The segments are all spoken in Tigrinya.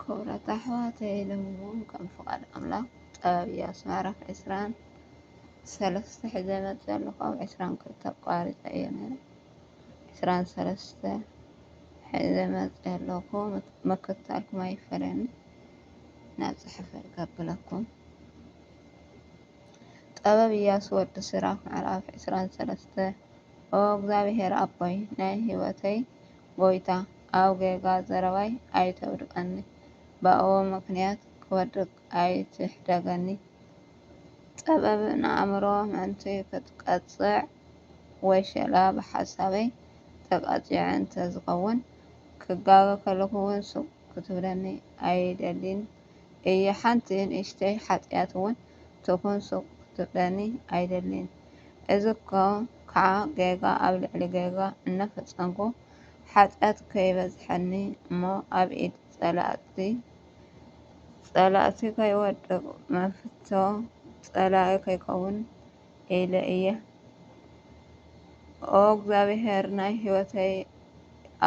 ክቡራት ኣሕዋተይ ሎሚውን ከም ፍቃድ ኣምላክ ጥበብ እያሱ ምዕራፍ ዕስራን ሰለስተ ሒዘ መፅእ ኣለኹ ኣብ ዕስራን ክልተ ኣቋሪፀ እየ ነይረ ዕስራን ሰለስተ ሒዘ መፅእ ኣለኹ መከታልኩም ኣይፈለኒ ናብ ፅሕፈ ከብለኩም ጥበብ እያሱ ወዲ ስራክ ምዕራፍ ዕስራን ሰለስተ ኦ እግዚኣብሔር ኣቦይ ናይ ህይወተይ ጎይታ ኣብ ጌጋ ዘረባይ ኣይተውድቀኒ ብኣዎ ምክንያት ክወድቅ ኣይትሕደገኒ ጸበብ ንኣእምሮ ምእንቲ ክትቀጽዕ ወሸላ ብሓሳበይ ተቃጺዐ እንተ ዝከውን ክጋገ ከለኩ ውን ስቅ ክትብለኒ ኣይደሊን እየ ሓንቲ ንእሽተይ ሓጥያት እውን ትኹን ሱቅ ክትብለኒ ኣይደሊን እዚ ከዓ ጌጋ ኣብ ልዕሊ ጌጋ እናፈፀምኩ ሓጥያት ከይበዝሐኒ እሞ ኣብ ኢድ ፀላእቲ ፀላእቲ ከይወድቅ መፍቶ ፀላኢ ከይከውን ኢለ እየ ኦ እግዚኣብሔር ናይ ህይወተይ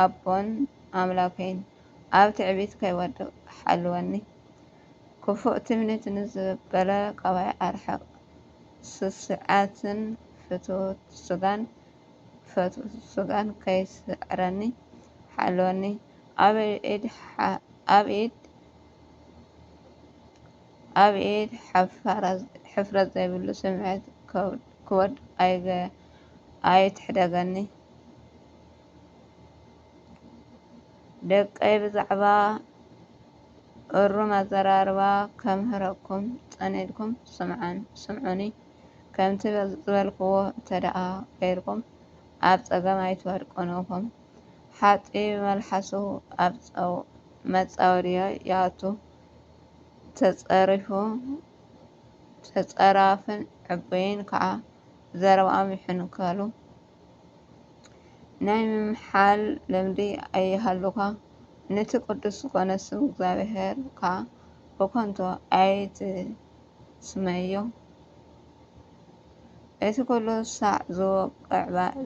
ኣቦን ኣምላከይን ኣብ ትዕቢት ከይወድቅ ሓልወኒ ክፉእ ትምኒት ንዝበለ ቀባይ ኣርሕቅ ስስዐትን ፍትውት ስጋን ፈትውት ስጋን ከይስዕረኒ ሓልወኒ ኣብ ኢድ ኣብየት ሕፍረት ዘይብሉ ስምዒት ክወድ ኣይትሕደገኒ ደቀይ ብዛዕባ እሩም ኣዘራርባ ከምህረኩም ጸኒድኩም ስምዑኒ ከምቲ ዝበልክዎ እንተደኣ ገይርኩም ኣብ ጸገም ኣይትወድቁን ኢኹም ሓጥቢ መልሓሱ ኣብ መጻወድዮ ይኣቱ ተጸሪፉ ተጸራፍን ዕቡይን ከኣ ብዘረባኦም ይሕንከሉ። ናይ ምምሓል ልምዲ ኣይሃሉኻ፣ ነቲ ቅዱስ ዝኾነ ስም እግዚኣብሔር ከኣ ብከንቱ ኣይትስመዮ። እቲ ኩሉ ሳዕ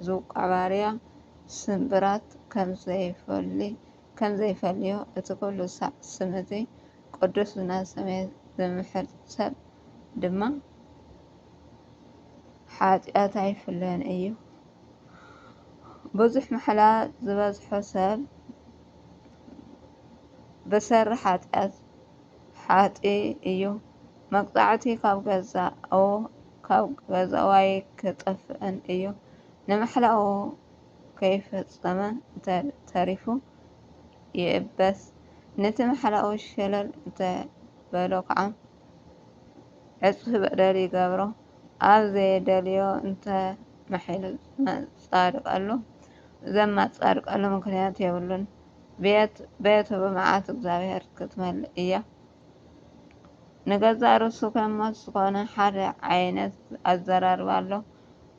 ዝውቃዕባርያ ስምብራት ከምዘይፈሊ ከም ዘይፈልዮ እቲ ዅሉ ሳዕ ስም እቲ ቕዱስ ዝናሰመየ ዚምሕል ሰብ ድማ ሓጢኣት ኣይፍለዮን እዩ። ብዙሕ ማሕላ ዝበዝሖ ሰብ ብሰሪ ሓጢኣት ሓጢ እዩ። መቅጻዕቲ ካብ ገዛኡ ካብ ገዛኡ ኣይክጠፍእን እዩ። ንማሕላኡ ከይፈጸመ እንተተሪፉ ይእበስ፣ ነቲ ማሕላኡ ሸለል እንተበሎ ከኣ ዕጽፊ በደል ይገብሮ፣ ኣብ ዘየደልዮ እንተመሓይሉዘማጻድቀሉ ዘማጻድቀሉ ምኽንያት የብሉን፣ ቤት ቤቱ ብመዓት እግዚኣብሔር ክትመልእ እያ። ንገዛእ ርእሱ ከ ሞት ዝኾነ ሓደ ዓይነት ኣዘራርባ ኣሎ።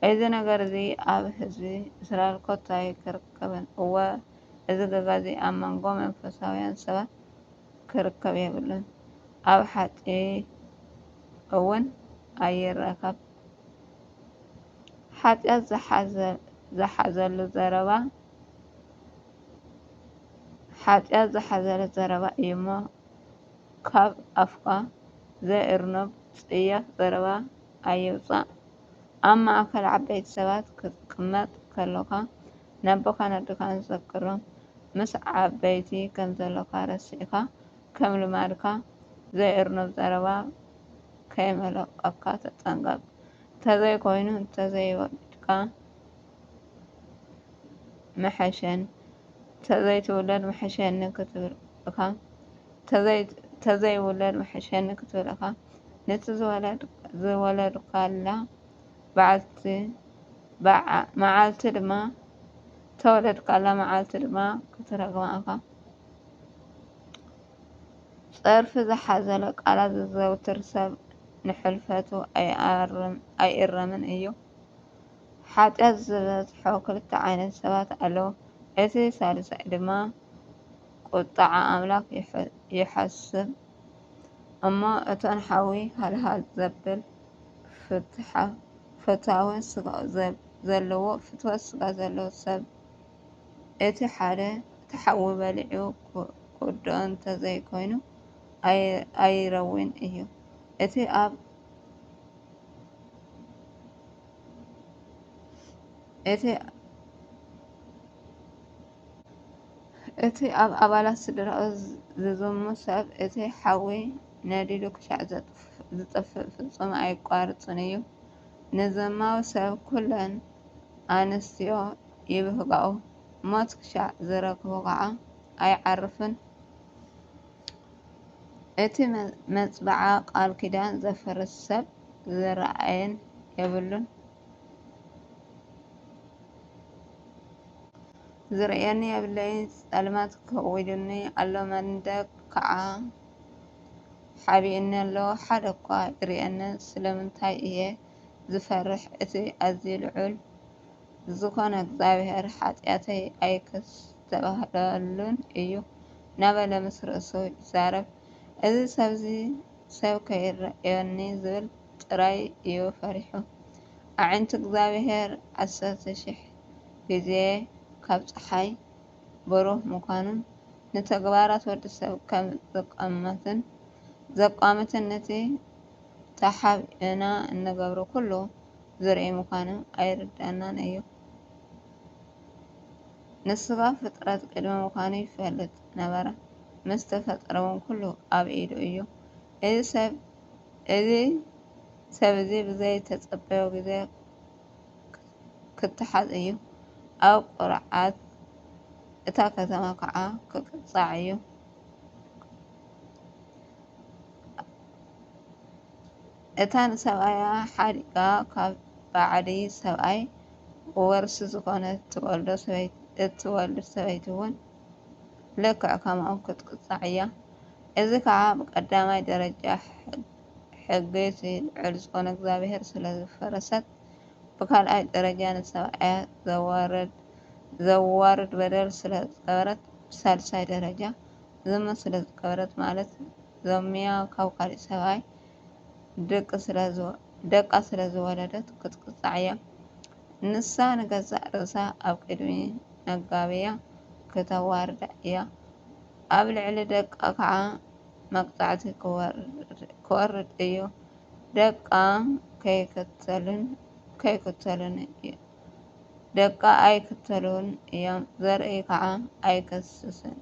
እዚ ነገር እዚ ኣብ ህዝቢ እስራኤል ኮታ ኣይክርከብን። እወ፣ እዚ ገጋ እዚ ኣብ መንጎ መንፈሳውያን ሰባት ክርከብ የብሉን፣ ኣብ ሓቂ እውን ኣይረከብ። ሓጢኣት ዝሓዘሉ ዘረባ ሓጢኣት ዝሓዘለ ዘረባ እዩ እሞ ካብ ኣፍካ ዘይእርኑብ ጽያፍ ዘረባ ኣይውጻእ ኣብ ማእከል ዓበይቲ ሰባት ክትቅመጥ ከሎኻ ነቦኻን ኣደኻን ዘክሮም ምስ ዓበይቲ ከም ዘሎኻ ረሲዕካ ከም ልማድካ ዘይእርኑብ ዘረባ ከይመልቀካ ተጠንቀቅ ተዘይ ኮይኑ ተዘይ ወልድካ ምሐሸኒ ተዘይ ትውለድ ምሐሸኒ ክትብል እካ ተዘይውለድ ምሐሸኒ ክትብልኻ ነቲ ዝወለድካላ መዓልቲ ድማ ክትረግማ እኻ። ፀርፊ ዝሓዘለ ቃላት ዘዘውትር ሰብ ንሕልፈቱ ኣይእረምን እዩ። ሓጢኣት ዝበዝሖ ክልተ ዓይነት ሰባት ኣለዉ፣ እቲ ሳልሳይ ድማ ቍጥዓ ኣምላኽ ይሓስብ እሞ፣ እተን ሓዊ ሃልሃል ዘብል ፍትወት ስጋ ዘለዎ ሰብ፣ እቲ ሓደ እቲ ሓዊ በሊዑ ክውድኦ እንተ ዘይኰይኑ ኣይረዊን እዩ። እቲ ኣብ። እቲ ኣብ ኣባላት ስድራኡ ዝዝሙ ሰብ፣ እቲ ሓዊ ነዲዱ ክሻዕ ዝጠፍእ ፍጹም ኣየቋርጽን እዩ። ንዘማዊ ሰብ ኩለን ኣንስትዮ ይብህግኦ፣ ሞት ክሻዕ ዝረክቦ ኸኣ ኣይዓርፍን። እቲ መጽብዓ ቃል ኪዳን ዘፍርስ ሰብ ዝረኣየን የብሉን። ዝርእየኒ የብለይ ጸልማት ከዊሉኒ ኣሎ መንደቅ ከዓ ሓቢኡኒ ኣሎ ሓደ እኳ ይርእየኒ ስለምንታይ እየ ዝፈርሕ እቲ ኣዝዩ ልዑል ዝኾነ እግዚኣብሔር ሓጢኣተይ ኣይክስተብሃለሉን እዩ ናበለ ምስ ርእሱ ይዛረብ እዚ ሰብዚ ሰብ ከይርእዮኒ ዝብል ጥራይ እዩ ፈሪሑ። ኣዒንቲ እግዚኣብሄር ዓሰርተ ሽሕ ግዜ ካብ ጸሓይ ብሩህ ምዃኑን ንተግባራት ወዲ ሰብ ከም ዝቛመትን ዘቋምትን ነቲ ተሓቢእና እንገብሮ ኩሉ ዝርኢ ምዃኑ ኣይርድኣናን እዩ። ንስጋ ፍጥረት ቅድሚ ምዃኑ ይፈልጥ። ነበረ። ምስ ተፈጠረውን ኩሉ ኣብ ኢዱ እዩ። እዚ ሰብ እዚ ሰብ እዚ ብዘይተጸበዮ ግዜ ክተሓዝ እዩ። ኣብ ቁርዓት እታ ከተማ ከኣ ክቅጻዕ እዩ። እታ ንሰብኣያ ሓዲጋ ካብ ባዕዲ ሰብኣይ ወርሲ ዝኾነት እትወልድ ሰበይቲ እውን ልክዕ ከምኡ ክትቅጻዕ እያ። እዚ ከኣ ብቀዳማይ ደረጃ ሕጊ እቲ ልዑል ዝኮነ እግዚኣብሔር ስለ ዝፈረሰት፣ ብካልኣይ ደረጃ ንሰብኣያ ዘዋርድ በደል ስለ ዝገበረት፣ ብሳልሳይ ደረጃ ዝሙት ስለ ዝገበረት ማለት ዘሙያ ካብ ካሊእ ሰብኣይ ደቃ ስለ ዝወለደት ክትቅጻዕ እያ። ንሳ ንገዛእ ርእሳ ኣብ ቅድሚ ነጋብያ ክተዋርዳ እያ፣ ኣብ ልዕሊ ደቃ ኸኣ መቕጻዕቲ ክወርድ እዩ፣ ደቃ ኣይክተሉን እዮም፣ ዘርኢ ኸኣ ኣይክስስኑን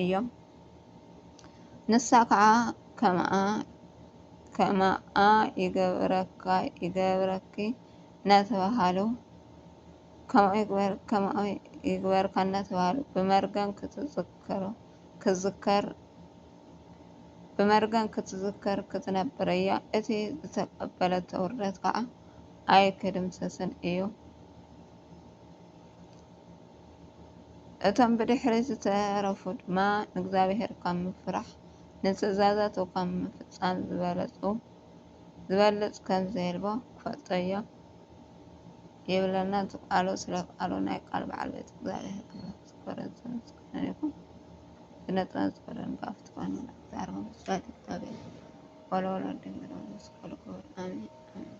እዮም። ንሳ ከኣ ከምኣ ከምኣ ይገብረካ ይገብረኪ እናተባህሉ ከምኡ ይግበር ከምኡ ይግበርካ እናተባህሉ ብመርገም ክትዝከሩ ክዝከር ብመርገም ክትዝከር ክትነብር እያ። እቲ ዝተቀበለቶ ውርደት ከኣ ኣይክድምሰስን እዩ። እቶም ብድሕሪት ዝተረፉ ድማ ንእግዚኣብሄር ካብ ምፍራሕ ንትእዛዛቱ ካብ ምፍጻም ዝበለጹ ዝበልጽ ከም ዘየልቦ ክፈልጦዮ ይብለና እቲ ቃሉ ስለ ቃሉ ናይ ቃል በዓል ቤት እግዚኣብሄር ክብረት ዝክበርን ዝተመስገነ ይኹን ዝነጥበን ዝበለን ባፍ ትኾኑ ዛርቦ ምስባል እግዚኣብሄር ወለወሎ ድንግሎ መስቀሉ ክብር ኣሜን ኣሜን